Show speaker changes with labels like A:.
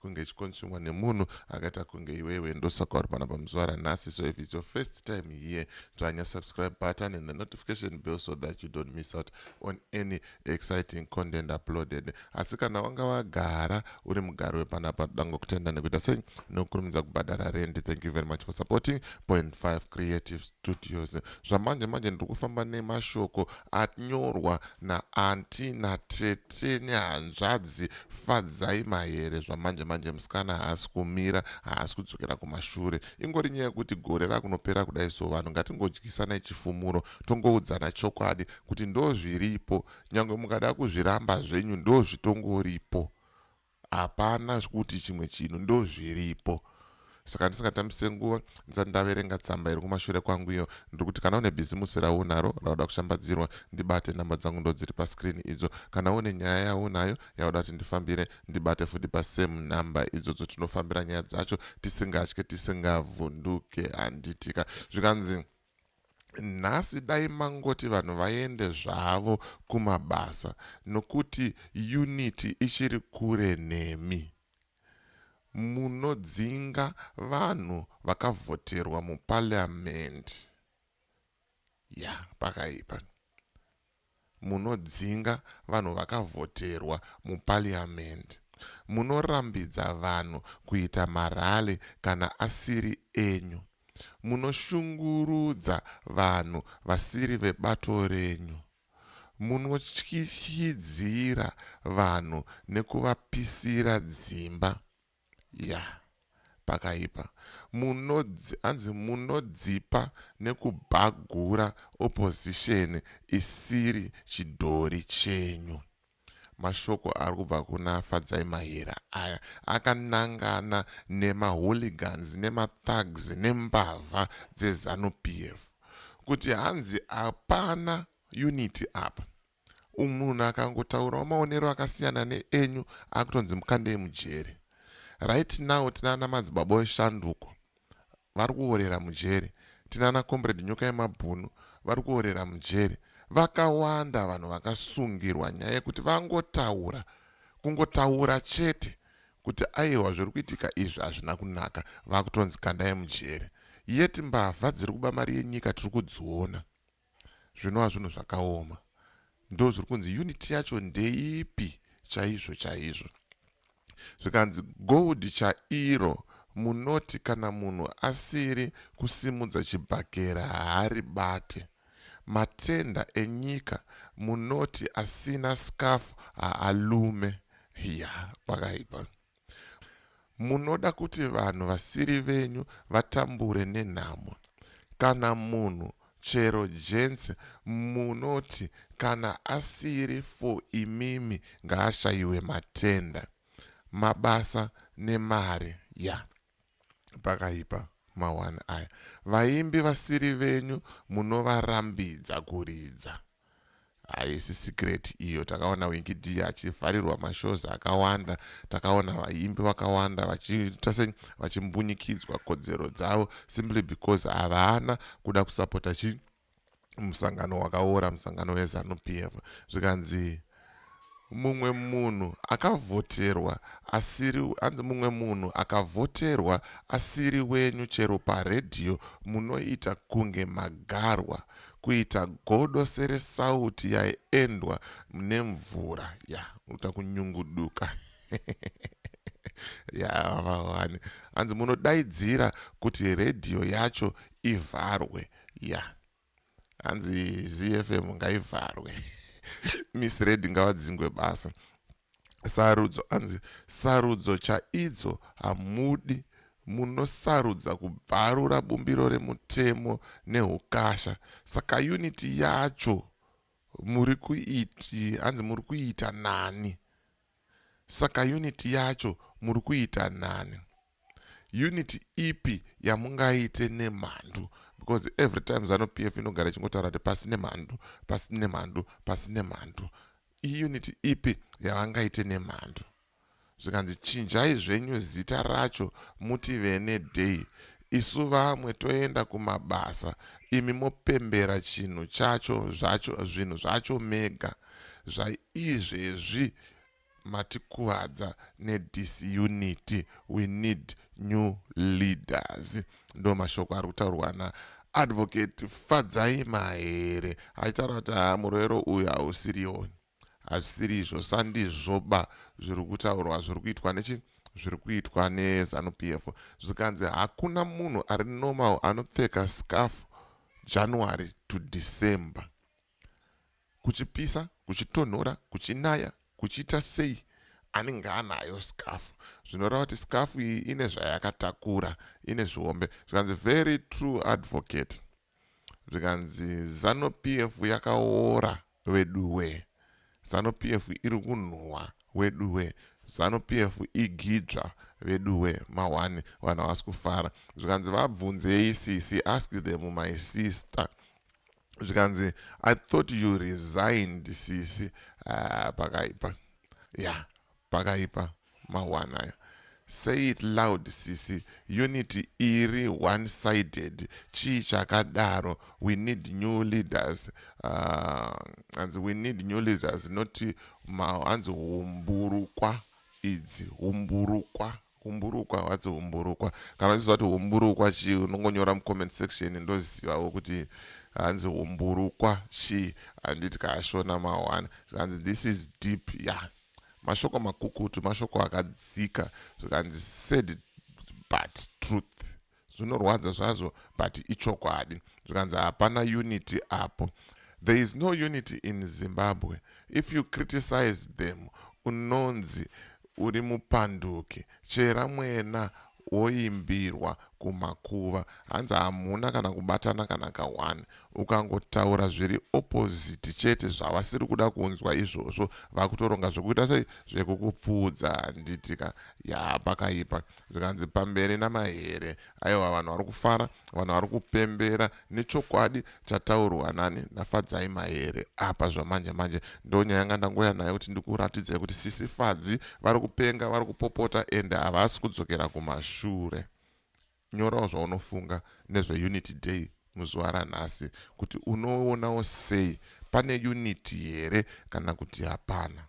A: kunge ichikonsumwa nemunhu akaita kunge iwewe ndosaka uri panapa muzuva ranhasi so if its your first time here dzvanya subscribe button and the notification bill so that you don't miss out on any exciting content uploaded asi kana wanga wagara uri mugari wepanapa toda ngokutenda nekuita sei nokukurumidza kubhadhara rendi thank you very much for supporting point 5 creative studios zvamanje manje ndiri kufamba nemashoko anyorwa na aunty na tete nehanzvadzi Fadzai Mahere zvamanje manje musikana haasi kumira haasi kudzokera kumashure ingori nyaya yekuti gore rakunopera kudai so vanhu ngatingodyisanai chifumuro tongoudzana chokwadi kuti ndozviripo nyangwe mukada kuzviramba zvenyu ndozvitongoripo hapana zvekuti chimwe chinhu ndozviripo saka ndisingatambise nguva ndisati ndaverenga tsamba iri kumashure kwangu iyo ndiri kuti kana une bhizimusi raunaro rauda kushambadzirwa ndibate nhamba dzangu ndodziri pascreen idzo kana une nyaya yaunayo yauda kuti ndifambire ndibate futi pasame number idzodzo tinofambira nyaya dzacho tisingatye tisingavhunduke handitika zvikanzi Nhasi dai mangoti vanhu vaende zvavo kumabasa nokuti unity ichiri kure nemi. Munodzinga vanhu vakavhoterwa muparliament. Yah pakaipa. Munodzinga vanhu vakavhoterwa muParliament. Munorambidza vanhu kuita marally kana asiri enyu. Munoshungurudza vanhu vasiri vebato renyu. Munotyityidzira vanhu nekuvapisira dzimba. Yah pakaipa. Munodzi, hanzi munodzipa nekubhagura opposition isiri chidhori chenyu. Mashoko ari kubva kuna Fadzai Mahera aya akanangana nemaHooligans nemaThugs nembavha dzeZanu PF kuti hanzi hapana unity apa. Umm munhu akangotaurawo maonero akasiyana neenyu akutonzi mukandei mujeri. Right now tinana madzibaba weshanduko vari kuorera mujeri. Tinana comrade nyoka yemabhunu vari kuorera mujeri. Vakawanda vanhu vakasungirwa nyaya yekuti vangotaura. Kungotaura chete kuti aiwa zviri kuitika izvi hazvina kunaka vakutonzi kandai mujeri. Yet mbavha dziri kuba mari yenyika tiri kudziona. Zvinova zvinhu zvakaoma. Ndozviri kunzi unit yacho ndeipi chaizvo chaizvo. Zvikanzi gold chairo munoti kana munhu asiri kusimudza chibhakera haaribate. Matenda enyika munoti asina scarf haalume. Hiya, pakaipa. Munoda kuti vanhu vasiri venyu vatambure nenhamo. Kana munhu chero gents munoti kana asiri for imimi ngaashaiwe matenda. Mabasa nemari yah. Pakaipa ma one aya. Vaimbi vasiri venyu munovarambidza kuridza. Haisi secret iyo. Takaona Winky D achivharirwa ma shows akawanda. Takaona vaimbi vakawanda vachiita sei vachimbunyikidzwa kodzero dzavo simply because havana kuda kusapota chii. musangano wakaora musangano wezanu p f zvikanzi mumwe munhu akavhoterwa asiri anzi mumwe munhu akavhoterwa asiri wenyu chero paredhiyo munoita kunge magarwa kuita godo seresauti yaiendwa nemvura ya unoita kunyunguduka yavawani hanzi munodaidzira kuti redhiyo yacho ivharwe ya hanzi zfm ngaivharwe misred ngavadzingwe basa sarudzo anzi sarudzo chaidzo hamudi munosarudza kubvarura bumbiro remutemo neukasha saka uniti yacho muri kuiti hanzi muri kuita nani saka uniti yacho muri kuita nani Unit ipi yamungaite nemhandu because every time zanu pf inogara ichingotaura kuti pasi nemhandu pasi nemhandu pasi nemhandu iunit ipi yavangaite nemhandu zvikanzi chinjai zvenyu zita racho muti vene day isu vamwe toenda kumabasa imi mopembera chinhu chacho zvacho zvinhu zvacho mega zvaizvezvi matikuvadza ne disunity we need new leaders ndomashoko ari kutaurwa na advocate fadzai mahere achitaura kuti haa muroero uyu hausirioni hazvisiri izvo sandizvoba zviri kutaurwa zviri kuitwa nechi zviri kuitwa nezanup f zvikanzi hakuna munhu ari normal anopfeka scarf january to december kuchipisa kuchitonhora kuchinaya kuchiita sei anenge anayo skafu zvinoreva kuti skafu iyi ine zvayakatakura ine zvihombe zvikanzi very true advocate zvikanzi zano p f yakaora veduwe zano p f iri kunhuhwa weduwe zano p f igidzva veduwe mahwani vanhu havasi kufara zvikanzi vabvunzei sisi ask them my sister zvikanzi i thought you resigned sisi uh, pakaipa ya yeah, pakaipa mahwana ayo say it loud sisi unity iri one sided chii chakadaro we need new leaders uh, hanzi we need new leaders not hanzi humburukwa idzi humburukwa Humburukwa hwatsi humburukwa. Kana uchiziva kuti humburukwa chii unongonyora mucomment section ndozivawo kuti hanzi humburukwa chii handiti kaashona mawana zvikanzi this is deep ya yeah. mashoko makukutu mashoko akadzika zvikanzi said but truth zvinorwadza zvazvo but ichokwadi zvikanzi hapana unity apo there is no unity in zimbabwe if you criticize them unonzi uri mupanduki chera mwena woimbirwa kumakuva hanzi hamuna kana kubatana kana ka1 ukangotaura zviri opposite chete zvavasiri kuda kunzwa izvozvo vakutoronga zvekuita sei zvekukupfuudza handiti ka yaa pakaipa zvikanzi pamberi namahere aiwa vanhu vari kufara vanhu vari kupembera nechokwadi chataurwa nani nafadzai mahere apa zvamanje manje ndonyaya yanga ndangoya nayo kuti ndikuratidzai kuti sisi fadzi vari kupenga vari kupopota ende havasi kudzokera kumashure Nyorawo zvaunofunga nezveUnity Day muzuva ranhasi kuti unoonawo sei, pane unity here kana kuti hapana.